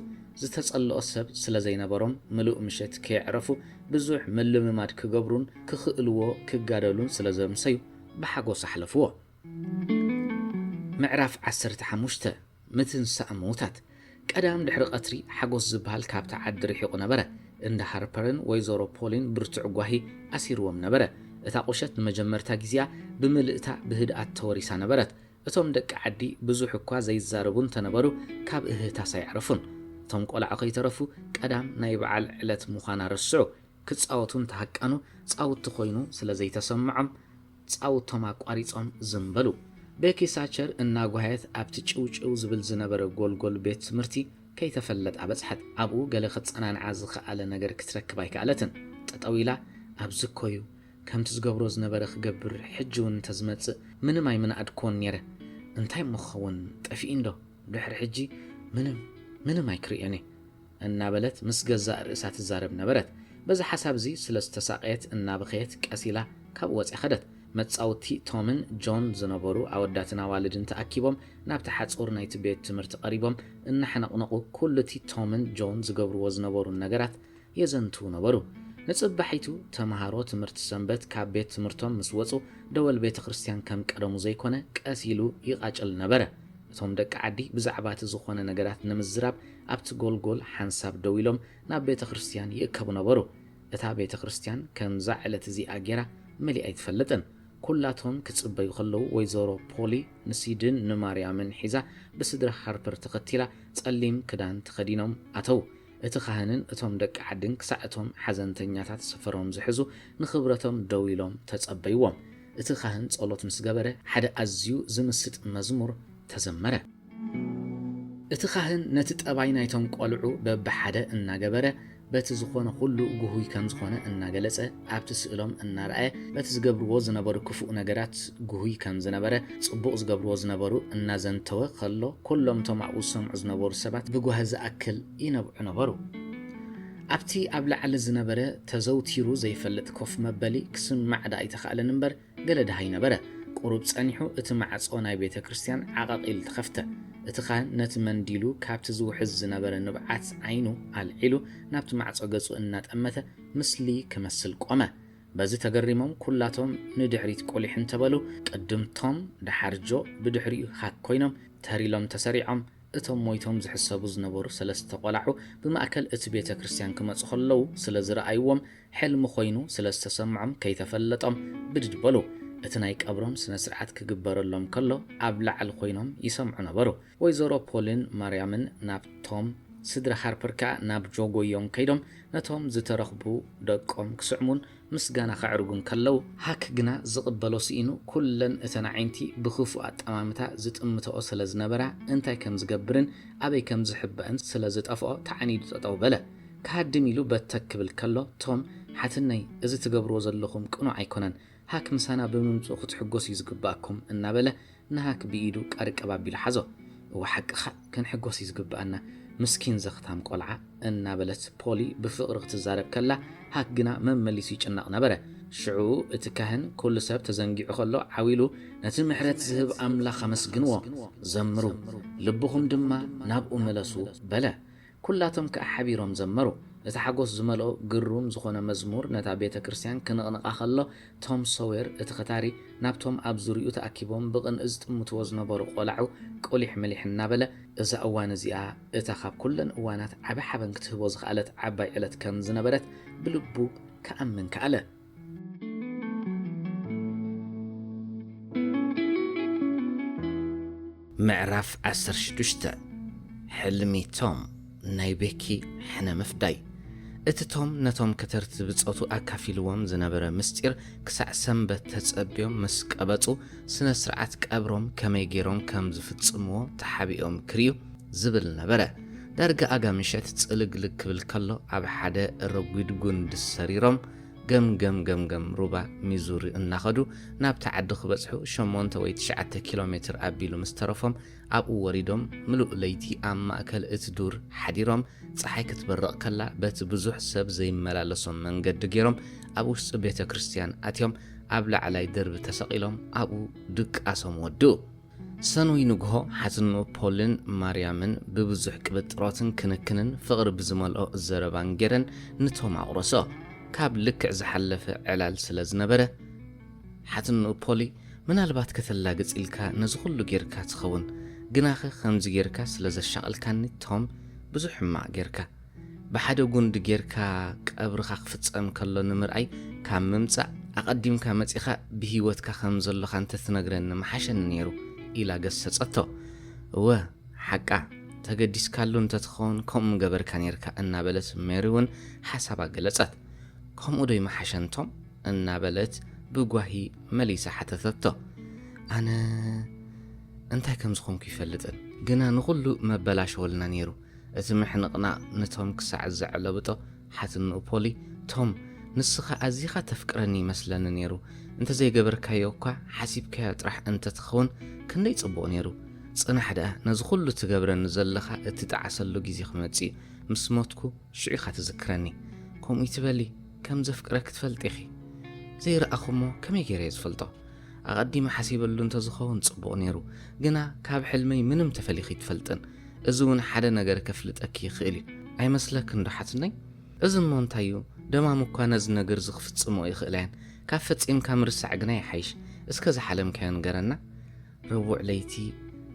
ዝተጸልኦ ሰብ ስለ ዘይነበሮም ምሉእ ምሸት ከየዕረፉ ብዙሕ ምልምማድ ክገብሩን ክኽእልዎ ክጋደሉን ስለ ዘምሰዩ ብሓጐስ ኣሕለፍዎ። ምዕራፍ ዓሰርተ ሓሙሽተ፣ ምትንሳእ ምዉታት። ቀዳም ድሕሪ ቐትሪ ሓጎስ ዝብሃል ካብታ ዓዲ ርሒቑ ነበረ። እንዳ ሃርፐርን ወይዘሮ ፖሊን ብርቱዕ ጓሂ ኣሲርዎም ነበረ። እታ ቑሸት ንመጀመርታ ግዜኣ ብምልእታ ብህድኣት ተወሪሳ ነበረት። እቶም ደቂ ዓዲ ብዙሕ እኳ ዘይዛረቡ እንተ ነበሩ ካብ እህህታስ ኣየዕረፉን። እቶም ቈልዑ ከይተረፉ ቀዳም ናይ በዓል ዕለት ምዃና ረስዑ። ክጻወቱ እንተ ሃቀኑ ጻውቲ ኮይኑ ስለ ዘይተሰምዖም፣ ጻውቶም ኣቋሪጾም ዝም በሉ። ቤኪ ሳቸር እናጓየት ኣብቲ ጭውጭው ዝብል ዝነበረ ጎልጎል ቤት ትምህርቲ ከይተፈለጣ በጽሐት። ኣብኡ ገለ ከጸናንዓ ዝኸኣለ ነገር ክትረክብ ኣይከኣለትን። ጠጠው ኢላ ኣብዚ እኮዩ ከምቲ ዝገብሮ ዝነበረ ክገብር ሕጂውን እንተዝመጽእ ምንም ኣይምነኣድክዎን ኔረ። እንታይ እሞ ክኸውን ጠፊኢንዶ ድሕሪ ሕጂ ምንም ምንም ኣይክርእዮንየ። እናበለት ምስ ገዛእ ርእሳ ትዛረብ ነበረት። በዚ ሓሳብ'ዚ ስለ ዝተሳቐየት እናበኸየት ቀስ ኢላ ካብኡ ወጺኣ ከደት። መጻውቲ ቶምን ጆን ዝነበሩ ኣወዳትን ኣዋልድን ተኣኪቦም ናብቲ ሓጹር ናይቲ ቤት ትምህርቲ ቀሪቦም እናሓነቕነቑ ኩሉ'ቲ ቶምን ጆን ዝገብርዎ ዝነበሩን ነገራት የዘንትዉ ነበሩ። ንጽባሒቱ ተመሃሮ ትምህርቲ ሰንበት ካብ ቤት ትምህርቶም ምስ ወጹ ደወል ቤተ ክርስትያን ከም ቀደሙ ዘይኮነ ቀስ ኢሉ ይቓጭል ነበረ። እቶም ደቂ ዓዲ ብዛዕባ'ቲ ዝኾነ ነገራት ንምዝራብ ኣብቲ ጎልጎል ሓንሳብ ደው ኢሎም ናብ ቤተ ክርስትያን ይእከቡ ነበሩ። እታ ቤተ ክርስትያን ከምዛ ዕለት እዚኣ ጌራ መሊኣ ኣይትፈልጥን። ኩላቶም ክጽበዩ ከለዉ ወይዘሮ ፖሊ ንሲድን ንማርያምን ሒዛ ብስድራ ሃርፐር ተኸቲላ ጸሊም ክዳን ተኸዲኖም ኣተዉ። እቲ ካህንን እቶም ደቂ ዓድን ክሳዕ እቶም ሓዘንተኛታት ሰፈሮም ዝሕዙ ንኽብረቶም ደው ኢሎም ተጸበይዎም። እቲ ካህን ጸሎት ምስ ገበረ ሓደ ኣዝዩ ዝምስጥ መዝሙር ተዘመረ። እቲ ኻህን ነቲ ጠባይ ናይቶም ቈልዑ በብሓደ እናገበረ፣ በቲ ዝዀነ ዅሉ ጕሁይ ከም ዝዀነ እናገለጸ፣ ኣብቲ ስእሎም እናርኣየ በቲ ዝገብርዎ ዝነበሩ ክፉእ ነገራት ጕሁይ ከም ዝነበረ፣ ጽቡቕ ዝገብርዎ ዝነበሩ እናዘንተወ ኸሎ፣ ኵሎም እቶም ኣብኡ ዝሰምዑ ዝነበሩ ሰባት ብጓሂ ዝኣክል ይነብዑ ነበሩ። ኣብቲ ኣብ ላዕሊ ዝነበረ ተዘውቲሩ ዘይፈልጥ ኮፍ መበሊ ክስማዕ ደኣ ኣይተኻእለን እምበር፣ ገለ ደሃይ ነበረ። ቁሩብ ጸኒሑ እቲ ማዕጾ ናይ ቤተ ክርስትያን ዓቐቕ ኢሉ ተኸፍተ። እቲ ኻህን ነቲ መንዲሉ ካብቲ ዝውሕዝ ዝነበረ ንብዓት ዓይኑ ኣልዒሉ ናብቲ ማዕጾ ገጹ እናጠመተ ምስሊ ክመስል ቆመ። በዚ ተገሪሞም ኩላቶም ንድሕሪት ቁሊሕ እንተ በሉ፣ ቅድም ቶም፣ ደሓር ጆ፣ ብድሕሪኡ ሃክ ኮይኖም ተር ኢሎም ተሰሪዖም። እቶም ሞይቶም ዝሕሰቡ ዝነበሩ ሰለስተ ቆላዑ ብማእከል እቲ ቤተ ክርስትያን ክመጹ ከለዉ ስለ ዝረኣይዎም ሕልሚ ኮይኑ ስለ ዝተሰምዖም ከይተፈለጦም ብድድ በሉ። እቲ ናይ ቀብሮም ስነ ስርዓት ክግበረሎም ከሎ ኣብ ላዕሊ ኮይኖም ይሰምዑ ነበሩ። ወይዘሮ ፖልን ማርያምን ናብቶም ስድራ ሃርፐር ከኣ ናብ ጆ ጎዮም ከይዶም ነቶም ዝተረኽቡ ደቆም ክስዕሙን ምስጋና ከዕርጉን ከለው፣ ሃክ ግና ዝቕበሎ ስኢኑ ኩለን እተን ኣዒንቲ ብክፉእ ኣጠማምታ ዝጥምተኦ ስለ ዝነበራ እንታይ ከም ዝገብርን ኣበይ ከም ዝሕበእን ስለ ዝጠፍኦ ተዓኒዱ ጠጠው በለ። ክሃድም ኢሉ በተክ ክብል ከሎ ቶም ሓትነይ እዚ ትገብርዎ ዘለኹም ቅኑዕ ኣይኮነን ሃክ ምሳና ብምምጽኡ ክትሕጎሱ እዩ ዝግብኣኩም እናበለ ንሃክ ብኢዱ ቀርቀብ ኣቢሉ ሓዞ እወ ሓቅኻ ክንሕጎስ እዩ ዝግብኣና ምስኪን ዘኽታም ቆልዓ እናበለት ፖሊ ብፍቕሪ ክትዛረብ ከላ ሃክ ግና መመሊሱ ይጭነቕ ነበረ ሽዑ እቲ ካህን ኩሉ ሰብ ተዘንጊዑ ከሎ ዓው ኢሉ ነቲ ምሕረት ዝህብ ኣምላኽ ኣመስግንዎ ዘምሩ ልብኹም ድማ ናብኡ ምለሱ በለ ኵላቶም ከኣ ሓቢሮም ዘመሩ። እቲ ሓጐስ ዝመልኦ ግሩም ዝዀነ መዝሙር ነታ ቤተ ክርስትያን ክንቕንቓ ኸሎ፣ ቶም ሶዌር፣ እቲ ኸታሪ፣ ናብቶም ኣብ ዙርያኡ ተኣኪቦም ብቕንኢ ዝጥምትዎ ዝነበሩ ቈላዑ ቍሊሕ ምሊሕ እናበለ፣ እዛ እዋን እዚኣ እታ ኻብ ኵለን እዋናት ዓቢ ሓበን ክትህቦ ዝኸኣለት ዓባይ ዕለት ከም ዝነበረት ብልቡ ኪኣምን ከኣለ። ምዕራፍ ዓሰርተ ሽዱሽተ ሕልሚ ቶም ናይ ቤኪ ሕነ ምፍዳይ እቲ ቶም ነቶም ከተርቲ ብጾቱ ኣካፊልዎም ዝነበረ ምስጢር ክሳዕ ሰንበት ተጸብዮም ምስ ቀበጹ ስነ ስርዓት ቀብሮም ከመይ ገይሮም ከም ዝፍጽምዎ ተሓቢኦም ክርዩ ዝብል ነበረ ዳርጋ ኣጋ ምሸት ጽልግልግ ክብል ከሎ ኣብ ሓደ ረጒድ ጉንዲ ሰሪሮም ገም ገም ገም ገም ሩባ ሚዙሪ እናኸዱ ናብቲ ዓዲ ክበጽሑ ሸሞንተ ወይ ትሽዓተ ኪሎ ሜትር ኣቢሉ ምስ ተረፎም ኣብኡ ወሪዶም ምሉእ ለይቲ ኣብ ማእከል እቲ ዱር ሓዲሮም ጸሓይ ክትበርቕ ከላ በቲ ብዙሕ ሰብ ዘይመላለሶም መንገዲ ጌሮም ኣብ ውሽጢ ቤተ ክርስትያን ኣትዮም ኣብ ላዕላይ ደርቢ ተሰቒሎም ኣብኡ ድቃሶም ወድኡ። ሰኑይ ንግሆ ሓትኖ ፖልን ማርያምን ብብዙሕ ቅብጥሮትን ክንክንን ፍቕሪ ብዝመልኦ ዘረባን ገይረን ንቶም ኣቝረሶ። ካብ ልክዕ ዝሓለፈ ዕላል ስለ ዝነበረ፣ ሓትኖ ፖሊ ምናልባት ከተላግጽ ኢልካ ነዚ ዅሉ ገይርካ ትኸውን፣ ግናኸ ኸምዚ ገይርካ ስለ ዘሻቐልካኒ ቶም ብዙሕ ሕማቕ ገይርካ። ብሓደ ጉንዲ ጌርካ ቀብርኻ ክፍጸም ከሎ ንምርኣይ ካብ ምምጻእ፣ ኣቐዲምካ መጺኻ ብህይወትካ ከም ዘሎኻ እንተ ትነግረኒ ምሓሸኒ ነይሩ ኢላ ገሰጸቶ። እወ ሓቃ፣ ተገዲስካሉ እንተ ትኸውን ከምኡ ምገበርካ ነይርካ እናበለት ሜሪ'ውን ሓሳባ ገለጸት። ከምኡዶ ኣይምሓሸን ቶም? እናበለት ብጓሂ መሊሳ ሓተተቶ። ኣነ እንታይ ከም ዝኾንኩ ኣይፈልጥን፣ ግና ንኹሉ መበላሸወልና ነይሩ። እቲ ምሕንቕናቕ ንቶም ክሳዕ ዘዕለብጦ ሓትንኡ ፖሊ፣ ቶም፣ ንስኻ ኣዚኻ ተፍቅረኒ ይመስለኒ ነይሩ፣ እንተ ዘይገበርካዮ እኳ ሓሲብካዮ ጥራሕ እንተ ትኸውን ክንደይ ጽቡቕ ነይሩ። ጽናሕ ደኣ ነዚ ኹሉ ትገብረኒ ዘለኻ እትጠዓሰሉ ግዜ ክመጽእ እዩ፣ ምስ ሞትኩ ሽዑ ኢኻ ትዝክረኒ። ከምኡ እይትበሊ፣ ከም ዘፍቅረኪ ትፈልጢ ኢኺ። ዘይረኣኹ እሞ ከመይ ገይረ እየ ዝፈልጦ? ኣቐዲመ ሓሲበሉ እንተ ዝኸውን ጽቡቕ ነይሩ፣ ግና ካብ ሕልመይ ምንም ተፈሊኺ ኣይትፈልጥን። እዚ ውን ሓደ ነገር ከፍልጠኪ ይክእል እዩ ኣይመስለክን ዶ ሓትነይ እዚ እሞ እንታይ እዩ ደማም እኳ ነዚ ነግርዚ ክፍጽምኦ ይክእላ እየን ካብ ፈጺምካ ምርሳዕ ግና ይሓይሽ እስከ ዝሓለምካዮ ንገረና ረቡዕ ለይቲ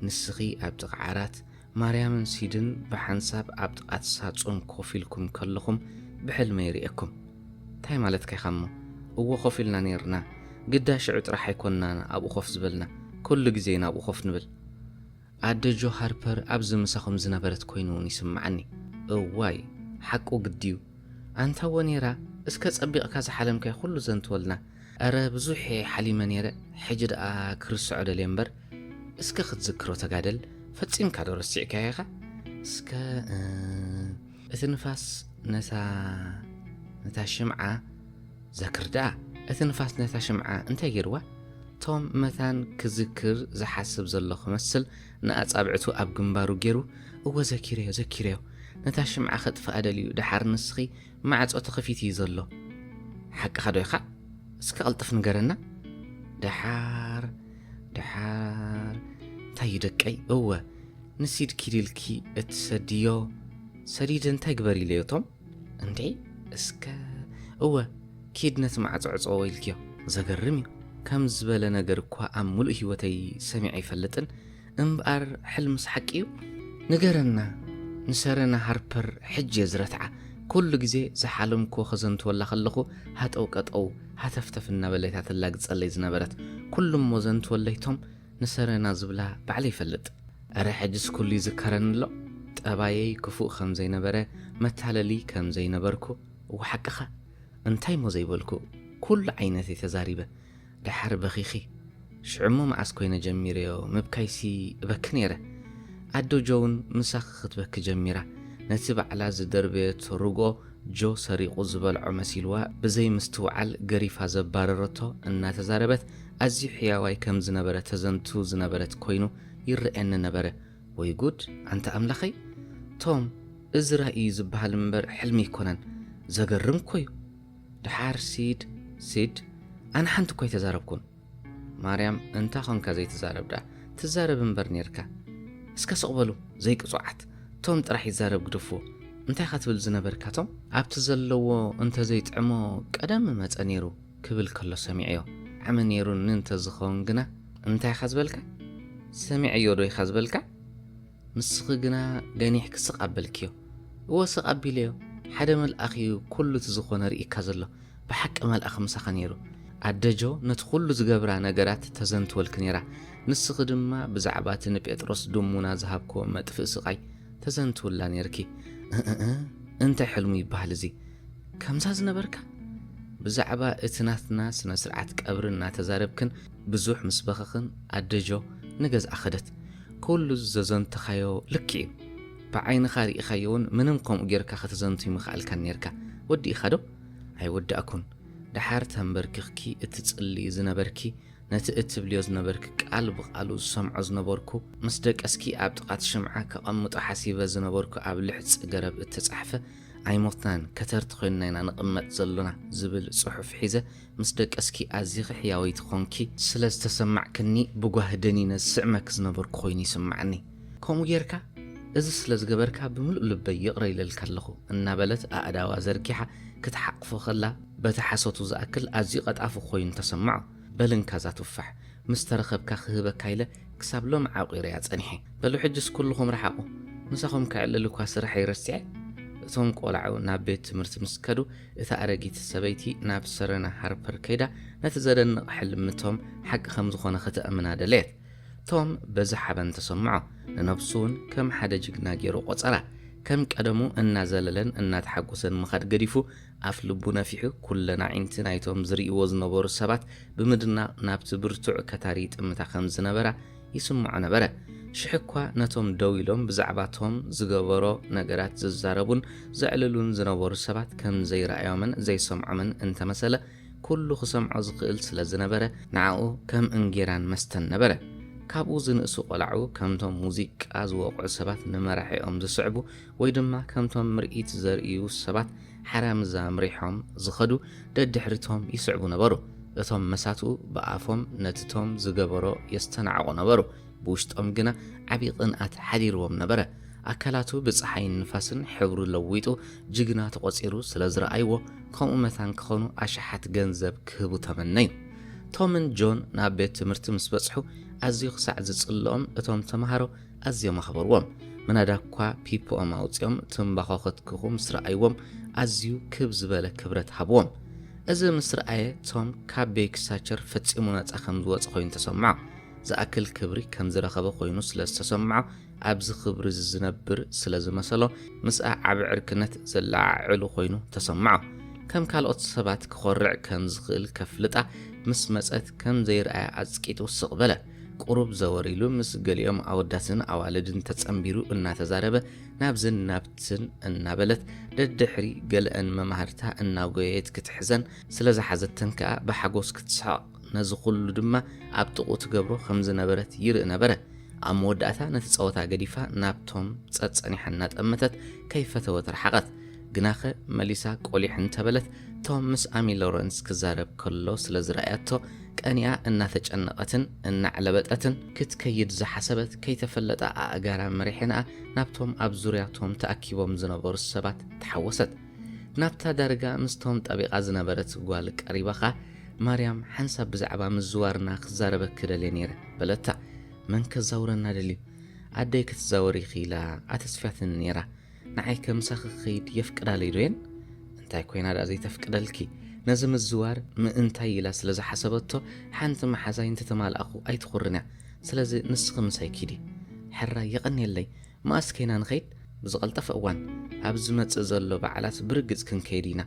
ንስኪ ኣብ ጥቃ ዓራት ማርያምን ሲድን ብሓንሳብ ኣብ ጥቃቲ ሳጹን ኮፍ ኢልኩም ከለኩም ብሕልመይ ሪኤኩም እንታይ ማለትካ ኢካ እሞ እዎ ኮፍ ኢልና ኔርና ግዳ ሽዑ ጥራሕ ኣይኮንናን ኣብኡ ኮፍ ዝበልና ኩሉ ግዜ ኢና ኣብኡ ኮፍ ንብል ኣደ ጆ ሃርፐር ኣብዚ ምሳኹም ዝነበረት ኮይኑ ውን ይስምዓኒ እዋይ ሓቁ ግዲዩ ኣንታ ወኔራ እስከ ጸቢቕካ ዝሓለምካዮ ኩሉ ዘንትወልና እረ ብዙሕ እየ ሓሊመ ኔረ ሕጂ ደኣ ክርስዖ ደልየ እምበር እስከ ክትዝክሮ ተጋደል ፈጺምካ ዶ ረሲዕካዮ ኢኻ እስከ እቲ ንፋስ ነታ ነታ ሽምዓ ዘክር ደኣ። እቲ ንፋስ ነታ ሽምዓ እንታይ ጌርዋ? ቶም መታን ክዝክር ዝሓስብ ዘሎ ክመስል ንኣጻብዕቱ ኣብ ግንባሩ ጌሩ፣ እወ ዘኪረዮ ዘኪረዮ። ነታ ሽምዓ ከጥፍኣ ደልዩ ደሓር ንስኺ ማዕጾ ተኸፊቱ እዩ ዘሎ። ሓቅኻ ዶ ኢኻ? እስከ ቅልጥፍ ንገረና። ደሓር ደሓር እንታይ እዩ ደቀይ? እወ ንሲድ ኪድ ኢልኪ እትሰድዮ ሰዲድ እንታይ ግበሪ ኢለዮ ቶም እንዴ እስከ እወ ኪድ ነቲ ማዕጾ ዕጾ ኢልክዮ ዘገርም እዩ ከም ዝበለ ነገር እኳ ኣብ ምሉእ ህይወተይ ሰሚዐ ኣይፈልጥን እምበኣር ሕልምስ ሓቂ እዩ ንገረና ንሰረና ሃርፐር ሕጂ እየ ዝረትዓ ኩሉ ግዜ ዝሓለምክዎ ከዘንትወላ ከለኹ ሃጠው ቀጠው ሃተፍተፍ እናበለት እያ ተላግጸለይ ዝነበረት ኩሉ እሞ ዘንትወለይቶም ንሰረና ዝብላ ባዕለይ ይፈልጥ እረ ሕጅስ ኩሉ ይዝከረኒ ኣሎ ጠባየይ ክፉእ ከምዘይነበረ መታለሊ ከምዘይነበርኩ እወ ሓቅኻ እንታይ እሞ ዘይበልኩ ኩሉ ዓይነት እየ ተዛሪበ ደሓር በኺኺ ሽዑ እሞ መዓስ ኮይነ ጀሚረዮ ምብካይሲ እበኪ ነይረ ኣዶ ጆውን ምሳኺ ክትበኪ ጀሚራ ነቲ ባዕላ ዝደርበየቶ ርግኦ ጆ ሰሪቑ ዝበልዖ መሲልዋ ብዘይ ምስትውዓል ገሪፋ ዘባረረቶ እናተዛረበት ኣዝዩ ሕያዋይ ከም ዝነበረ ተዘንቱ ዝነበረት ኮይኑ ይረኣየኒ ነበረ። ወይ ጉድ ኣንታ ኣምላኸይ! ቶም እዚ ራኢ እዩ ዝበሃል እምበር ሕልሚ ኣይኮነን። ዘገርም እኮ እዩ። ደሓር ሲድ፣ Sid፣ ኣነ ሓንቲ እኳ ኣይተዛረብኩን። ማርያም እንታ ኾንካ ዘይትዛረብዳ ትዛረብ እምበር ኔርካ እስከ ስቕበሉ ዘይቅጹዓት ቶም ጥራሕ ይዛረብ ግደፍዎ እንታይ ኢኻ ትብል ዝነበርካ ቶም ኣብቲ ዘለዎ እንተ ዘይጥዕሞ ቀደም ምመጸ ኔሩ ክብል ከሎ ሰሚዐዮ ዓሚ ኔሩኒ እንተ ዝኸውን ግና እንታይ ኢኻ ዝበልካ ሰሚዐዮ ዶ ኢኻ ዝበልካ ንስኺ ግና ገኒሕኪ ስቕ ኣበልክዮ። እወ ስቕ ኣቢለዮ። ሓደ መልኣኽ እዩ ኩሉ እቲ ዝኾነ ኣርእይካ ዘሎ። ብሓቂ መልኣኽ ምሳኻ ነይሩ። ኣደ ጆ ነቲ ኩሉ ዝገብራ ነገራት ተዘንትወልኪ ነይራ። ንስኺ ድማ ብዛዕባ እቲ ንጴጥሮስ ድሙና ዝሃብክዎ መጥፍኢ ስቓይ ተዘንትውላ ነይርኪ። እእእ እንታይ ሕልሙ ይበሃል እዚ። ከምዛ ዝነበርካ? ብዛዕባ እቲ ናትና ስነ-ስርዓት ቀብሪ እናተዛረብክን፣ ብዙሕ ምስ በኸኽን ኣደ ጆ ንገዝኣ ከደት። ኩሉ ዘዘንተኻዮ ልክዕ እዩ ብዓይንኻ ሪኢኻዮ ውን ምንም ከምኡ ጌርካ ከተዘንትይ ምኸኣልካን ኔርካ ወዲእኻ ዶ? ኣይወዳእኩን ደሓር ተንበርኪኽኪ እትጽልዩ ዝነበርኪ ነቲ እትብልዮ ዝነበርኪ ቃል ብቓሉ ዝሰምዖ ዝነበርኩ ምስ ደቀስኪ ኣብ ጥቓቲ ሽምዓ ከቐምጦ ሓሲበ ዝነበርኩ ኣብ ልሕጺ ገረብ እተጻሕፈ ኣይሞትናን ከተርቲ ኮይንና ኢና ንቕመጥ ዘሎና ዝብል ጽሑፍ ሒዘ ምስ ደቀስኪ ኣዚኺ ሕያወይቲ ዀንኪ ስለ ዝተሰማዕክኒ፣ ብጓሂ ደኒነ ዝስዕመኪ ዝነበርኩ ዀይኑ ይስምዓኒ። ከምኡ ጌርካ እዚ ስለ ዝገበርካ ብምሉእ ልበይ ይቕረ ኢለልካ ኣለኹ እናበለት ኣእዳዋ ዘርጊሓ ክትሓቝፎ ኸላ፣ በቲ ሓሶቱ ዝኣክል ኣዝዩ ቐጣፊ ዀይኑ ተሰምዖ። በል እንካ እዛ ቱፋሕ፣ ምስ ተረኸብካ ክህበካ ኢለ ክሳብ ሎሚ ዓቚረያ ጸኒሐ። በሉ ሕጅስ ኵልኹም ርሓቑ፣ ምሳኹም ከዕልል'ኳ ስርሐይ ረሲዐ። እቶም ቈልዑ ናብ ቤት ትምህርቲ ምስ ከዱ፣ እታ ኣረጊት ሰበይቲ ናብ ሰረና ሃርፐር ከይዳ ነቲ ዘደንቕ ሕልሚ ቶም ሓቂ ከም ዝኾነ ከተእምና ደለየት። ቶም በዚ ሓበን ተሰምዖ። ንነብሱ እውን ከም ሓደ ጅግና ገይሩ ቆጸራ። ከም ቀደሙ እናዘለለን እናተሓጎሰን ምኻድ ገዲፉ ኣፍ ልቡ ነፊሑ ኩለን ኣዒንቲ ናይቶም ዝርእይዎ ዝነበሩ ሰባት ብምድናቕ ናብቲ ብርቱዕ ከታሪ ይጥምታ ከም ዝነበራ ይስምዖ ነበረ። ሽሕ'ኳ ነቶም ደው ኢሎም ብዛዕባ ቶም ዝገበሮ ነገራት ዝዛረቡን ዘዕልሉን ዝነበሩ ሰባት ከም ዘይረኣዮምን ዘይሰምዖምን እንተ መሰለ፣ ኵሉ ክሰምዖ ዝኽእል ስለ ዝነበረ፣ ንኣኡ ከም እንጌራን መስተን ነበረ። ካብኡ ዝንእሱ ቈልዑ ከምቶም ሙዚቃ ዝወቕዑ ሰባት ንመራሒኦም ዝስዕቡ ወይ ድማ ከምቶም ምርኢት ዘርእዩ ሰባት ሓራምዝ ኣምሪሖም ዝኸዱ ደድሕሪቶም ይስዕቡ ነበሩ። እቶም መሳትኡ ብኣፎም ነቲቶም ዝገበሮ የስተናዕቑ ነበሩ፣ ብውሽጦም ግና ዓቢ ቅንኣት ሓዲርዎም ነበረ። ኣካላቱ ብጸሓይን ንፋስን ሕብሩ ለዊጡ ጅግና ተቖጺሩ ስለ ዝረኣይዎ ከምኡ መታን ክኾኑ ኣሽሓት ገንዘብ ክህቡ ተመነዩ። ቶምን ጆን ናብ ቤት ትምህርቲ ምስ በጽሑ ኣዝዩ ክሳዕ ዝጽልኦም እቶም ተመሃሮ ኣዝዮም ኣኽበርዎም። ምናዳ እኳ ፒፖኦም ኣውጺኦም ትምባኾ ከትክኹ ምስ ረኣይዎም ኣዝዩ ክብ ዝበለ ክብረት ሃብዎም። እዚ ምስ ረኣየ ቶም ካብ ቤኪ ሳቸር ፈጺሙ ናጻ ከም ዝወጸ ኾይኑ ተሰምዖ። ዝኣክል ክብሪ ከም ዝረኸበ ኾይኑ ስለ ዝተሰምዖ ኣብዚ ክብሪ እዚ ዝነብር ስለ ዝመሰሎ ምስኣ ዓቢ ዕርክነት ዘለዓዕሉ ኾይኑ ተሰምዖ። ከም ካልኦት ሰባት ክኾርዕ ከም ዝኽእል ከፍልጣ ምስ መጸት ከም ዘይረኣያ ኣጽቂጡ ስቕ በለ። ቁሩብ ዘወር ኢሉ ምስ ገሊኦም ኣወዳትን ኣዋልድን ተጸንቢሩ እናተዛረበ ናብዝን ናብትን እናበለት ደድሕሪ ገለኣን መማህርታ እናጎየየት ክትሕዘን ስለ ዝሓዘተን ከኣ ብሓጎስ ክትስሕቕ ነዚ ኩሉ ድማ ኣብ ጥቕኡ ትገብሮ ከም ዝነበረት ይርኢ ነበረ። ኣብ መወዳእታ ነቲ ጸወታ ገዲፋ ናብቶም ጸጸኒሓ እናጠመተት ከይፈተወት ረሓቐት። ግናኸ መሊሳ ቆሊሕ እንተበለት ቶም ምስ ኣሚ ሎረንስ ክዛረብ ከሎ ስለ ዝረኣያቶ ቀኒኣ እናተጨነቐትን እናዕለበጠትን ክትከይድ ዝሓሰበት ከይተፈለጣ ኣእጋራ መሪሕንኣ ናብቶም ኣብ ዙርያ ቶም ተኣኪቦም ዝነበሩ ሰባት ተሓወሰት። ናብታ ዳርጋ ምስ ቶም ጠቢቓ ዝነበረት ጓል ቀሪባ ኸኣ ማርያም ሓንሳብ ብዛዕባ ምዝዋርና ክዛረበኪ ደልየ ነይረ በለታ። መን ከዛውረና ደልዩ? ኣደይ ክትዛወር ኢኺ ኢላ ኣተስፍያትኒ ነይራ። ንዓይ ከምሳኺ ክኸይድ የፍቅዳለይ ዶ የን? እንታይ ኮይና ደኣ ዘይተፍቅደልኪ? ነዚ ምዝዋር ምእንታይ ኢላ ስለ ዝሓሰበቶ ሓንቲ መሓዛይ እንተተማልኣኹ ኣይትኹርንያ። ስለዚ ንስኺ ምሳይ ኪዲ። ሕራይ የቐንየለይ። መኣስ ከይና ንኸይድ? ብዝቐልጠፈ እዋን። ኣብ ዝመጽእ ዘሎ በዓላት ብርግጽ ክንከይድ ኢና።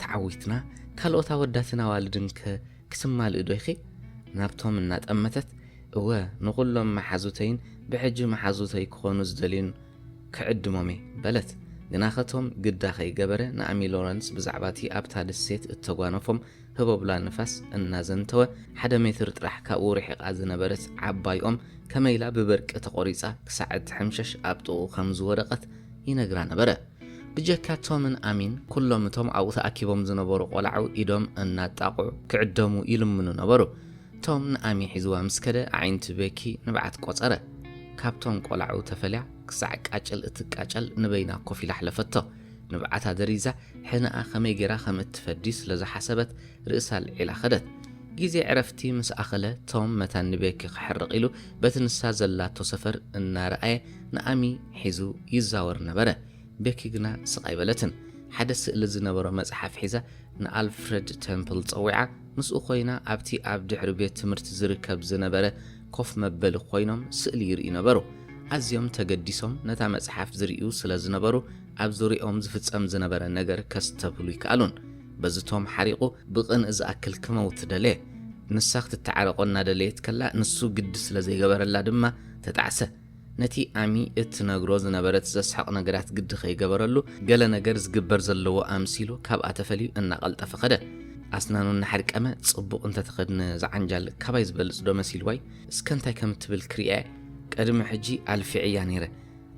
ተዓዊትና? ካልኦት ኣወዳትን ኣዋልድን ከ ክትማልኢ ዶ ኢኺ? ናብቶም እናጠመተት። እወ ንኹሎም መሓዙተይን ብሕጂ መሓዙተይ ክኾኑ ዝደልዩን ክዕድሞም'የ በለት። ግናኸ ቶም ግዳ ከይገበረ ንኣሚ ሎረንስ ብዛዕባ'ቲ ኣብታ ደሴት እተጓነፎም ህቦብላ ንፋስ እናዘንተወ፣ ሓደ ሜትር ጥራሕ ካብኡ ርሒቓ ዝነበረት ዓባይ ኦም ከመይ ኢላ ብበርቂ ተቖሪጻ ክሳዕ እትሕምሸሽ ኣብ ጥቕኡ ከም ዝወደቐት ይነግራ ነበረ። ብጀካ ቶምን ኣሚን ኩሎም እቶም ኣብኡ ተኣኪቦም ዝነበሩ ቆላዑ ኢዶም እናጣቕዑ ክዕደሙ ይልምኑ ነበሩ። ቶም ንኣሚ ሒዝዋ ምስ ከደ ኣዒንቲ ቤኪ ንብዓት ቆጸረ። ካብቶም ቆላዑ ተፈልያ ክሳዕ ቃጭል እትቃጨል ንበይና ኮፍ ኢላ ኣሕለፈቶ። ንብዓታ ደሪዛ ሕነኣ ከመይ ጌራ ከም እትፈዲ ስለ ዝሓሰበት ርእሳ ኣልዒላ ከደት። ግዜ ዕረፍቲ ምስ ኣኸለ ቶም መታን ንቤኪ ክሕርቕ ኢሉ በቲ ንሳ ዘላቶ ሰፈር እናረኣየ ንኣሚ ሒዙ ይዛወር ነበረ። ቤኪ ግና ስቕ ኣይበለትን። ሓደ ስእሊ ዝነበሮ መጽሓፍ ሒዛ ንኣልፍረድ ተምፕል ጸዊዓ፣ ምስኡ ዀይና ኣብቲ ኣብ ድሕሪ ቤት ትምህርቲ ዚርከብ ዝነበረ ኮፍ መበሊ ዀይኖም ስእሊ ይርእዩ ነበሩ። ኣዝዮም ተገዲሶም ነታ መጽሓፍ ዝርእዩ ስለ ዝነበሩ፣ ኣብ ዙርያኦም ዚፍጸም ዝነበረ ነገር ኬስተብህሉ ኣይከኣሉን። በዚ ቶም ሓሪቑ ብቕንኢ ዚኣክል ኪመውት ደለየ። ንሳ ኽትተዓረቖ እናደለየት ከላ፣ ንሱ ግዲ ስለ ዘይገበረላ ድማ ተጣዕሰ። ነቲ ኣሚ እትነግሮ ዝነበረት ዘስሕቕ ነገራት ግዲ ከይገበረሉ፣ ገለ ነገር ዝግበር ዘለዎ ኣምሲሉ ካብኣ ተፈልዩ እናቐልጠፈ ከደ። ኣስናኑ እናሓድቀመ፣ ጽቡቕ እንተ ተኸድነ ዝዓንጃል ካባይ ዝበልጽዶ መሲልዋ'ዩ? እስከ እንታይ ከም እትብል ክርእያ'የ። ቅድሚ ሕጂ ኣልፊዐያ ነይረ።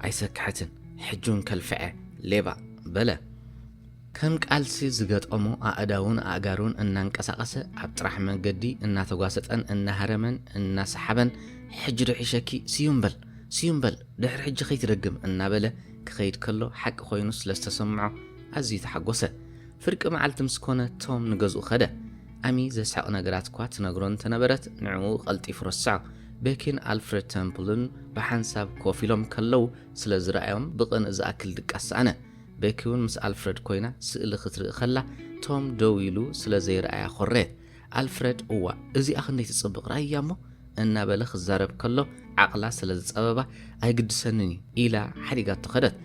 ኣይሰክሐትን። ሕጂ'ውን ከልፍዐ። ሌባ! በለ። ከም ቃልሲ ዝገጠሞ ኣእዳዉን ኣእጋሩን እናንቀሳቐሰ፣ ኣብ ጥራሕ መንገዲ እናተጓሰጠን እናሃረመን እናሰሓበን ሕጂ ዶ ሒሸኪ፣ ስዩም በል ስዩም በል ድሕሪ ሕጂ ከይትደግም እናበለ ክኸይድ ከሎ ሓቂ ኮይኑ ስለ ዝተሰምዖ ኣዝዩ ተሓጎሰ። ፍርቂ መዓልቲ ምስ ኮነ ቶም ንገዝኡ ከደ። ኣሚ ዘስሕቕ ነገራት'ኳ ትነግሮ እንተነበረት ንዕኡ ቀልጢፉ ረስዖ። ቤኪን ኣልፍረድ ተምፕልን ብሓንሳብ ኮፍ ኢሎም ከለዉ ስለ ዝረኣዮም ብቕንኢ ዝኣክል ድቃስ ሰኣነ። ቤኪ እውን ምስ ኣልፍረድ ኰይና ስእሊ ክትርኢ ከላ፣ ቶም ደው ኢሉ ስለ ዘይረኣያ ኰረየት። ኣልፍረድ፣ እዋእ እዚኣ ክንደይ ትጽብቕ ርኣይያ እሞ፣ እናበለ ክዛረብ ከሎ ዓቕላ ስለ ዝጸበባ፣ ኣይግድሰንን እዩ፣ ኢላ ሓዲጋቶ ከደት።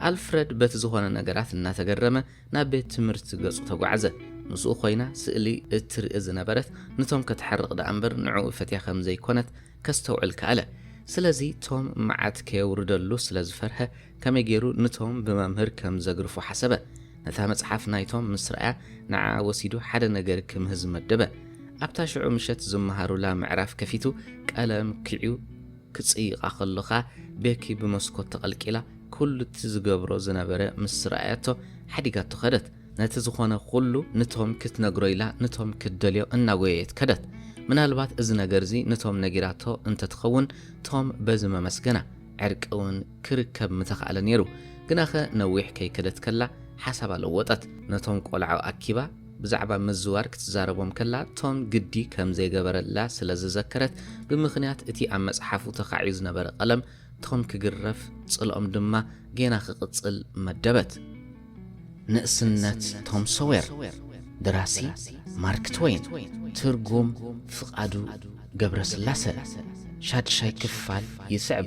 ኣልፍረድ በቲ ዝዀነ ነገራት እናተገረመ ናብ ቤት ትምህርቲ ገጹ ተጓዕዘ። ምስኡ ኰይና ስእሊ እትርኢ ዝነበረት ንቶም ከተሕርቕ ደኣ እምበር ንዕኡ ፈትያ ከም ዘይኰነት ከስተውዕል ከኣለ። ስለዚ ቶም መዓት ከየውርደሉ ስለ ዝፈርሀ ከመይ ገይሩ ንቶም ብመምህር ከም ዘግርፎ ሓሰበ። ነታ መጽሓፍ ናይ ቶም ምስ ረኣያ፣ ንዓኣ ወሲዱ ሓደ ነገር ክምህዝ መደበ። ኣብታ ሽዑ ምሸት ዝመሃሩላ ምዕራፍ ከፊቱ ቀለም ኲዕዩ ክጽይቓ ከሎ ከኣ ቤኪ ብመስኮት ተቐልቂላ ኩሉ'ቲ ዝገብሮ ዝነበረ ምስ ረኣያቶ ሓዲጋቶ ከደት። ነቲ ዝኾነ ኩሉ ንቶም ክትነግሮ ኢላ ንቶም ክትደልዮ እናጎየየት ከደት። ምናልባት እዚ ነገር'ዚ ንቶም ነጊራቶ እንተትኸውን ቶም በዚ መመስገና። ዕርቂ'ውን ክርከብ ምተኻእለ ነይሩ። ግናኸ ነዊሕ ከይከደት ከላ ሓሳባ ለወጠት። ነቶም ቆልዑ ኣኪባ ብዛዕባ ምዝዋር ክትዛረቦም ከላ ቶን ግዲ ከም ዘይገበረላ ስለ ዝዘከረት ብምኽንያት እቲ ኣብ መጽሓፉ ተኻዕዩ ዝነበረ ቀለም ቶን ክግረፍ ጽልኦም ድማ ጌና ክቕጽል መደበት። ንእስነት ቶም ሶዌር፣ ደራሲ ማርክ ትወይን፣ ትርጉም ፍቃዱ ገብረስላሰ፣ ሻድሻይ ክፋል ይስዕብ።